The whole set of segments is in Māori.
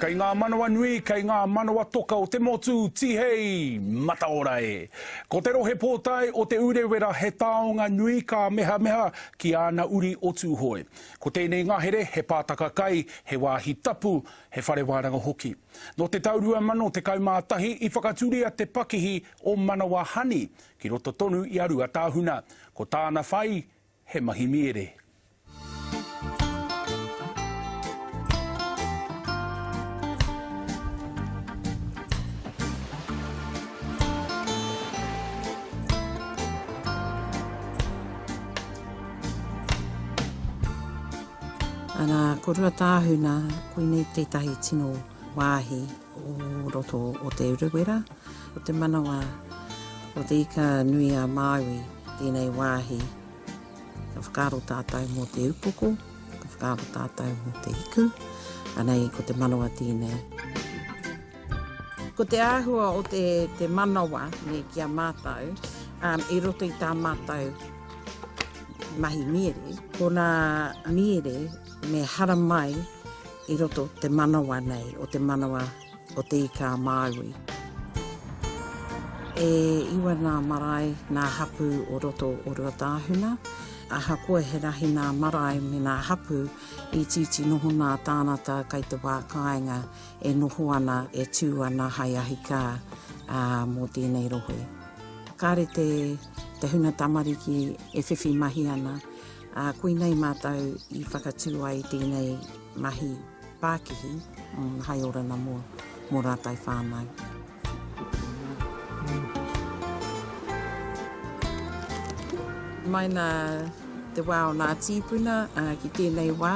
Kei ngā manawa nui, kei ngā manawa toka o te motu, tihei, mataora e! Ko te rohe pōtae o Te Urewera he taonga nui ka mehameha ki āna uri o Tūhoe. Ko tēnei ngahere he pātaka kai, he wāhi tapu, he whare wānanga hoki. Nō te tau 2011 i whakaturia te pakihi o Manawa Honey, Ki roto tonu i a Ruatāhuna, ko tāna whai he Mahimiere. Ana, ko Ruatāhuna, koinei tētahi tino wāhi. o roto o Te Urewera, o te manawa o Te Ika-nui-a-Māui tēnei wāhi. Ka whakaaro tātou mō te upoko, ka whakaaro tātou mō te hiku, anei ko te manawa tēnei. Ko te āhua o te, te manawa nei ki a mātou, um, i roto i tā mātou mahi miere, ko nā miere me haramai I roto te manawa nei o te manawa o Te Ika-a-Māui. E iwa nā marae, nā hapū o roto o Ruatāhuna. Ahakoa he rahi nā marae me nā hapū, itiiti noho nā tānata kai te wā kāinga e noho ana, e tū ana hai ahikā mō tēnei rohe. Kāre te huna tamariki e whiwhi mahi ana. Ā, koinei mātou i whakatū ai i tēnei mahi pākihi, hai ora na mō mō rātou whānau. Mai nā te wā o nā tīpuna ki tēnei wā,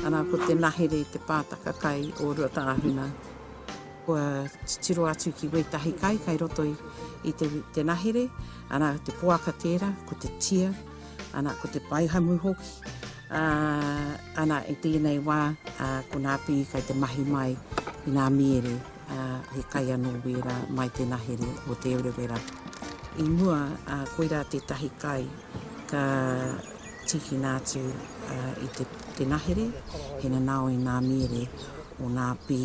arā, ko te nahere te pātaka kai o Ruatāhuna. Kua titiro atu ki wētahi kai kai roto i te nahere, arā, te poaka tērā, ko te tia, Ana, ko te paihamu hoki. Ā, ana, i tēnei wā, ā, ko nā Pī kai te mahi mai i nā mīere, ā, he kai anō wērā mai tēnā here o Te Urewera. I mua, ā, koirā tētahi kai ka tīkina atu, ā, i te, tēnā here, he nanao i nā mīere o nā Pī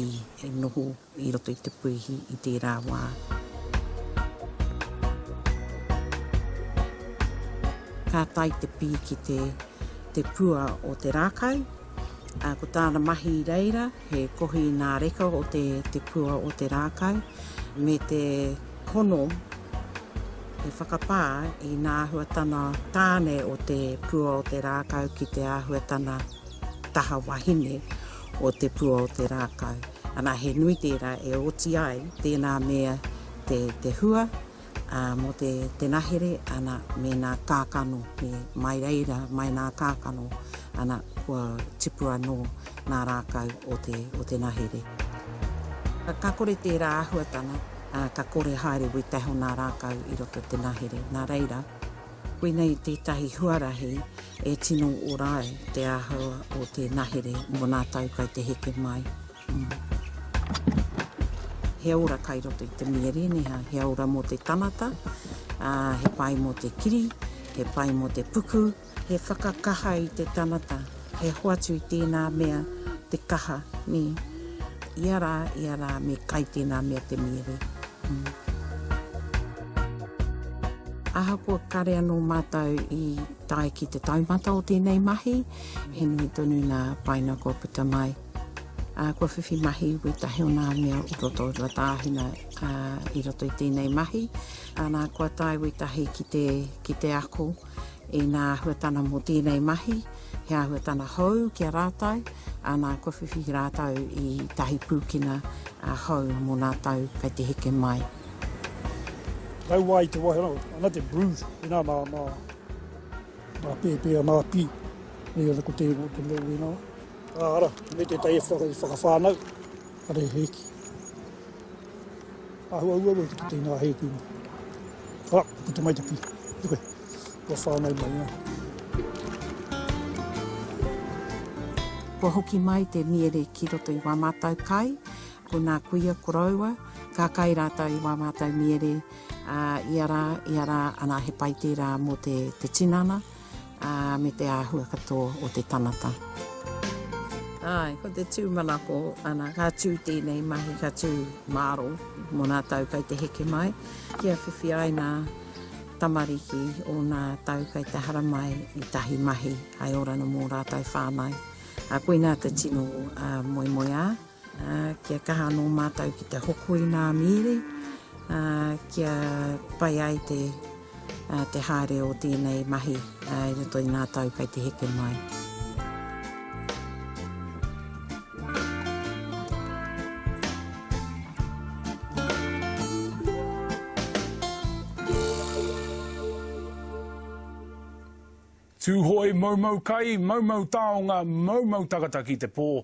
e noho I roto i te puihi i tērā wā. Ka tae te pī ki te te pua o te rākau, ā, ko tāna mahi i reira he kohi nā reka o te te pua o te rākau me te hono te whakapā i nā āhuatana tāne o te pua o te rākau ki te āhuatana taha wahine o Te Pua o te Rākau. Ana, he nui tērā e oti ai tēnā me te hua mō te nahere, ana, me nā kākano, me mai reira mai nā kākano, ana, kua tipu anō nā rākau o te nahere. Ka kore tērā āhuatanga, ka kore haere wētahi o nā rākau i roto i te nahere, nā reira. Koinei tētahi huarahi e tino ora ai te āhua o te nahere mō nā tau kai te heke mai. He ora kai roto i te miere nei, he ora mō te tanata, ā, he pai mō te kiri, he pai mō te puku, he whakakaha i te tanata. He hoatu i tēnā mea te kaha, nē. Ia rā, ia rā, me kai tēnā mea te mīhare. Ahakoa kāre anō mātou i tae ki te taumata o tēnei mahi, he nui tonu nā Paina kua puta mai. Kua whiwhi mahi wētahi o nā mea o roto o Rua Tāhuna i roto i tēnei mahi, āna kua tae wētahi ki te ako. Inā āhuatana mō tēnei mahi, he āhuatana hou ki a rātou, āna kua whiwhi rātou i tahi pūkenga hou mō nā tau kei te heke mai. Tau wā i te wai ana, ana te blues, inā nā, nā, nā pēpē ana pī, nei ana ko te ingoa te mea wēnā. Ā, ara, me tētahi e whakawhānau, ara e hēki. Āhua uaua ki te teina hei kuinga. Ara, ka puta mai te pī. Ki koe. Kua whānau mai ngā. Kua hoki mai te miere ki roto i wā mātou kai, ko nā kuia koroua, ka kai rātou i wā mātou miere, ā, ia rā, ia rā, anā he pai tērā mō te, te tinana. ā, me te āhua katoa o te tangata. Āe, ko te tūmanako, ana, ka tū tēnei mahi, ka tū māro mō nā tau kei te heke mai, kia whiwhi ai nā tamariki o nā tau kei te hara mai i tahi mahi hai oranga mō rātou whānau. Ā, koinā te tino moemoeā. Ā, kia kaha anō mātou ki te hoko i ngā mīri, ā, kia pai ai te, ā, te haere o tēnei mahi, ā, i roto i ngā tau kei te heke mai. Tūhoe, moumou kai, moumou taonga, moumou takata ki te pō,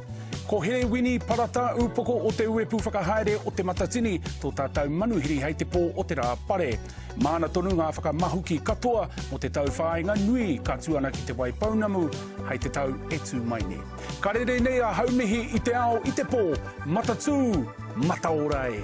Ko Here Wini Parata, Upoko o te Uepu Whakahaere o Te Matatini, tō tātou manuhiri hei te pō o te rā pare. Māna tonu ngā whakamahuki katoa mō te tau whāinga nui ka tū ana ki Te Waipounamu hei te tau e tū mai nei. Ka rere nei a Haumihi i te ao i te pō, matatū, mataora e!